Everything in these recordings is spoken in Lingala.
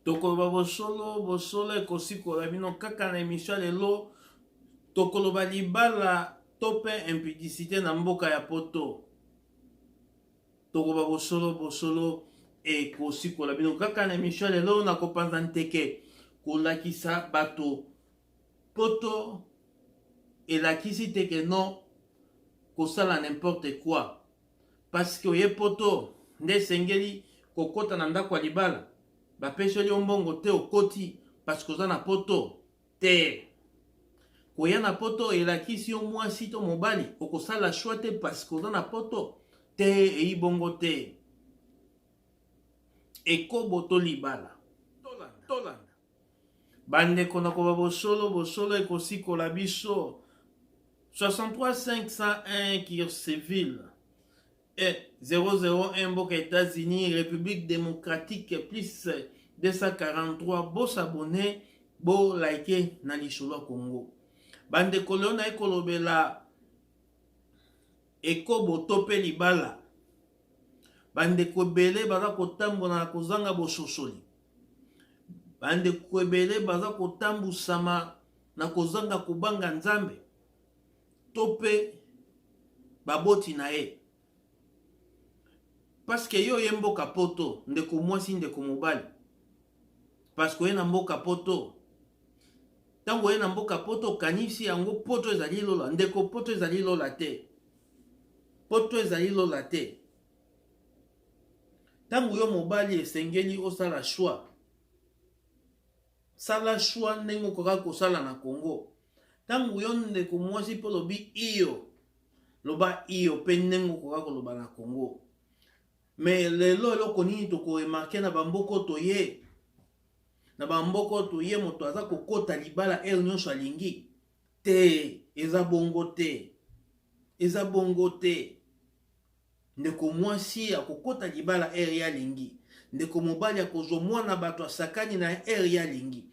tokoloba bosolo bosolo ekosikola bino kaka na emisio ya lelo tokoloba libala to mpe impudicité na mboka ya poto tokoba bosolo bosolo ekosikola bino kaka na emisio ya lelo na kopanza nteke kolakisa bato poto elakisi te ke no kosala n'importe quoi Parce que oye poto nde esengeli kokota na ndako ya libala bapeseli yo mbongo te okoti parce que oza na poto te koya na poto elakisi yo mwasi to mobali okosala shwa te parce que oza na poto te eyi bongo te ekobo to libala tolanda tolanda Bandeko na koba bosolo bosolo ekosikola biso 63501 Kirceville et 001 mboka États-Unis République démocratique plus 243 bosabone bo like na lisolo ya Congo bandeko leo naye kolobela Ekobo to mpe libala. Bandeko ebele baza kotambola na kozanga bososoli. Bandeko ebele baza kotambusama na kozanga kobanga Nzambe to mpe baboti na ye. Paske yo oye mboka poto, ndeko mwasi, ndeko mobali, paske oye na mboka poto, ntango oye na mboka poto okanisi yango poto ezali lola ndeko poto ezali lola te poto ezali lola te ntango yo mobali esengeli osala choix sala choix ndenge okokaki kosala na congo ntango yo ndeko mwasi mpo olobi iyo loba iyo mpe ndenge okoka koloba na congo me lelo eloko nini tokoremarke na bamboko toye na bambokoto ye moto aza kokota libala heure nyonso alingi te eza bongo te eza bongo te ndeko mwasi akokota libala heure ye alingi ndeko mobali akozwa mwana bato asakani na heure ye alingi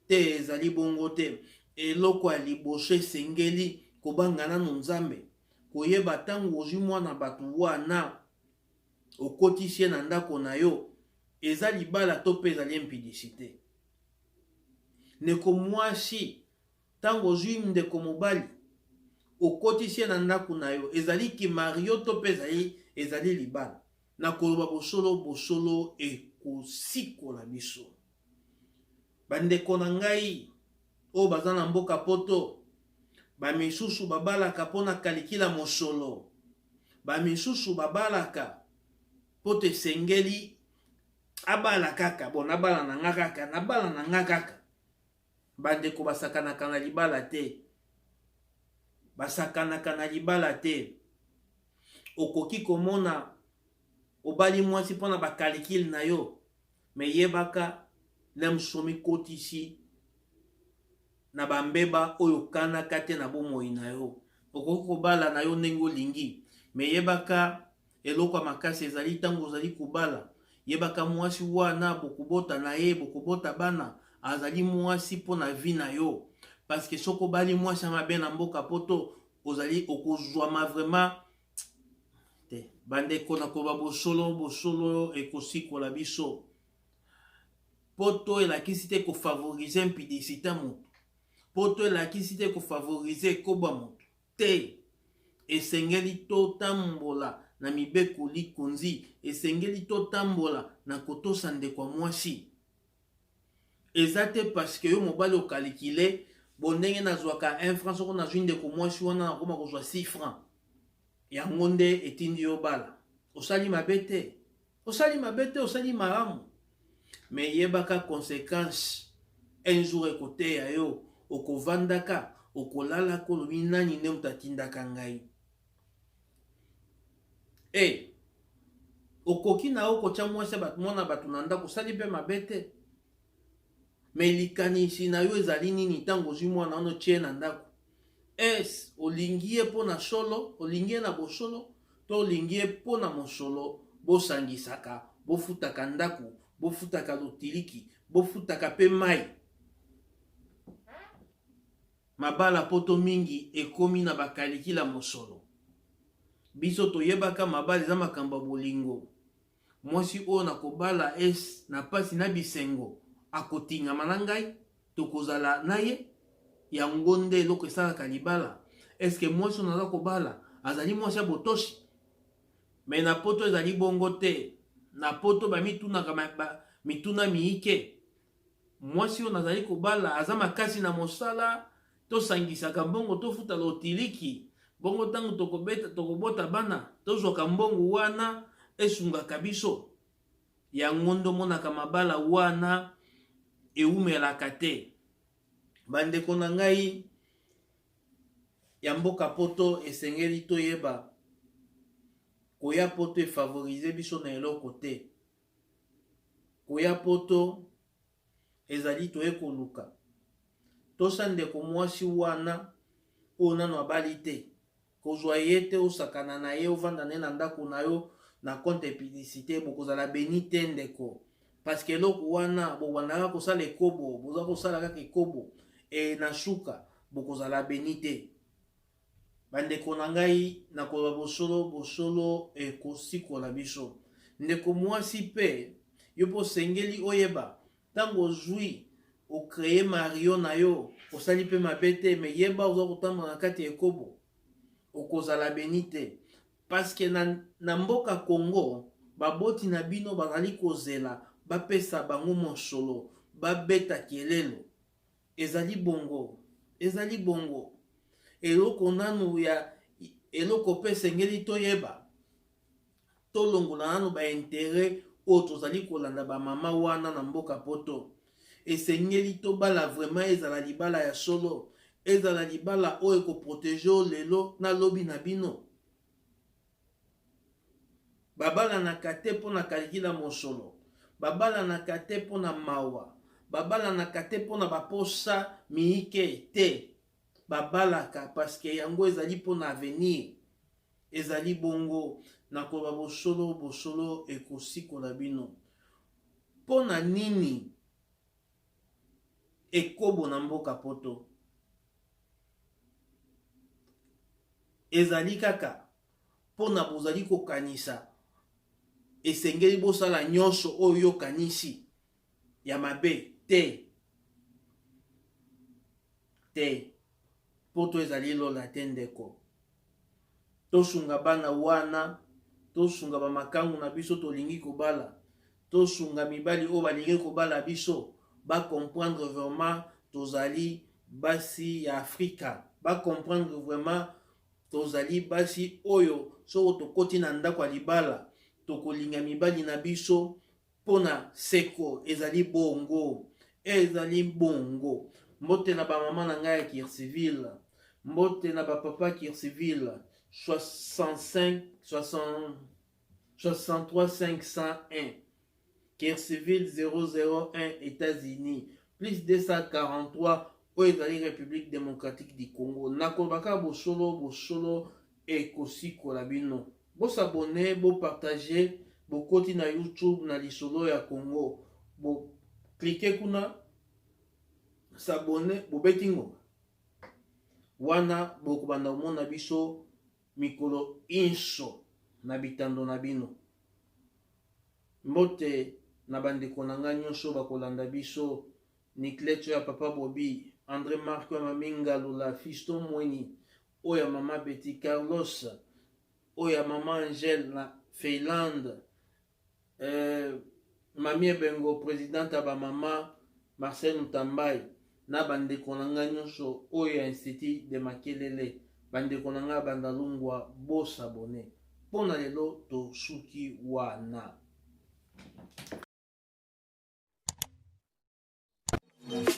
te ezali bongo te eloko ya liboso esengeli kobanga nano nzambe koyeba ntango ozwi mwana bato wana okotisi ye na ndako na yo eza libala to mpe ezali impidicite ndeko mwasi ntango ozwi ndeko mobali okotisi ye na ndako na yo ezali kimario to mpe ezali ezali libala na koloba bosolo bosolo ekosikola biso bandeko na ngai oyo baza na mboka poto bamisusu babalaka mpo na kalikila mosolo bamisusu babalaka mpo te esengeli abala kaka bo nabala na nga kaka nabala na nga kaka bandeko basakanaka na libala te basakanaka na libala te okoki komona obali mwasi mpo na bakalikile na yo Mais yebaka Lemso omikotisi na ba mbeba oyo okanaka te na bomoi na yo. Okoki kobala na yo ndenge olingi, mais yebaka eloko ya makasi ezali ntango ozali kobala. Yebaka mwasi wana bokobota na ye, bokobota bana, azali mwasi mpo na vie na yo. Parce que soki obali mwasi ya mabe na mboka poto, ozali okozwama vraiment te bandeko na koba bosolo bosolo ekosikola biso mpo to elakisi te kofavorize mpidisita moto mpo to elakisi te kofavorize ekoba moto te esengeli totambola na mibeko likonzi esengeli totambola na kotosa ndeko ya mwasi eza te parce que yo mobali o calculer bo ndenge nazwaka 1 franc soko nazwi ndeko mwasi wana nakoma kozwa 6 franc yango nde etindi yo bala osali mabe te osali mabe te osali malamu me yebaka conséquence un jour ekoteya yo okovandaka okolalaka olobi nani nde moto atindaka ngai Hey, eh, okoki na yo kotya mwasi ya bato mwana bato na ndako osali mpe mabe te me likanisi na yo ezali nini ntango ozwi mwana wana otye na ndako es olingi ye mpo na solo olingi ye na bosolo to olingi ye mpo na mosolo bosangisaka bofutaka ndako bofutaka lotiliki bofutaka mpe mai Mabala poto mingi ekomi na bakalikila mosolo. Biso toyebaka mabala eza makambo ya bolingo. Mwasi oyo nakobala es na pasi na bisengo akotingama na ngai tokozala na ye yango nde eloko esalaka libala eske mwasi oyo naza kobala azali mwasi ya botoshi me na poto ezali bongo te na poto bamitunaka ba, mituna miike mwasi oyo nazali kobala aza makasi na mosala tosangisaka mbongo tofuta lotiliki bongo ntango tokobeta tokobota bana tozwaka mbongo wana esungaka biso yango nde omonaka mabala wana ewumelaka te bandeko na ngai ya mboka poto esengeli toyeba koya poto efavorize biso na eloko te koya poto ezali toye koluka tosa ndeko mwasi wana oyo nano abali te kozwa ye te osakana na ye ovanda na ye na ndako na yo na compte publicité bokozala beni te ndeko parceke eloko wana bobandaka kosala ekobo boza kosala kaka ekobo e na suka bokozala beni te Bandeko na ngai, na koloba bosolo, bosolo ekosikola biso. Ndeko mwasi pe, yo pe osengeli oyeba, ntango ozwi okreye mario na yo, osali pe mabe te, me yeba oza kotambola na kati ya ekobo, okozala beni te. Paske na, na mboka Congo, baboti na bino bazali kozela bapesa bango mosolo, babeta kelelo. Ezali bongo. Ezali bongo. Eloko nanu ya eloko pe esengeli toyeba, tolongola nanu ba interet oyo tozali kolanda ba mama wana na mboka poto. Esengeli tobala vraiment ezala libala ya solo, ezala libala oyo ekoprotege yo lelo na lobi na bino. babalanaka te mpo na kaliki na mosolo babalanaka te mpo na mawa babalanaka te mpo na baposa miike te babalaka parceke yango ezali mpo na avenir ezali bongo na koloba bosolo bosolo ekosikola bino mpo na nini ekobo na mboka poto ezali kaka mpo na bozali kokanisa esengeli bosala nyonso oyo yokanisi ya mabe te te Poto ezali lola te ndeko. Tosunga bana wana, tosunga ba makangu na biso tolingi kobala, tosunga mibali oyo balingi kobala biso ba comprendre vraiment tozali basi ya Afrika, ba comprendre vraiment tozali basi oyo soko tokoti na ndako ya libala tokolinga mibali na biso mpo na seko ezali bongo ezali bongo mbote na bamama na ngai ya kirsiville mbote na bapapa kirsiville 65 60 63501 Kirsiville 001 États-Unis plus 243 oyo ezali République démocratique du Congo nakolobaka bosolo bosolo ekosikola bino bo s'abonner bo partager bokoti na youtube na lisolo ya congo bo cliquer kuna s'abonner bobeti ngonga wana bokobanda komona biso mikolo inso na bitando na bino mbote na bandeko na ngai nyonso bakolanda biso nicleto ya papa bobi andré marco ya maminga lula fiston mweni oyo ya mama Betty Carlos oyo ya mama Angèle na Finlande euh, mami ebengo presidente ya bamama Marcel Mutambai na bandeko na ngai nyonso oyo ya institut de Makelele bandeko na ngai bandalungwa bosabone mpo na lelo tosuki wana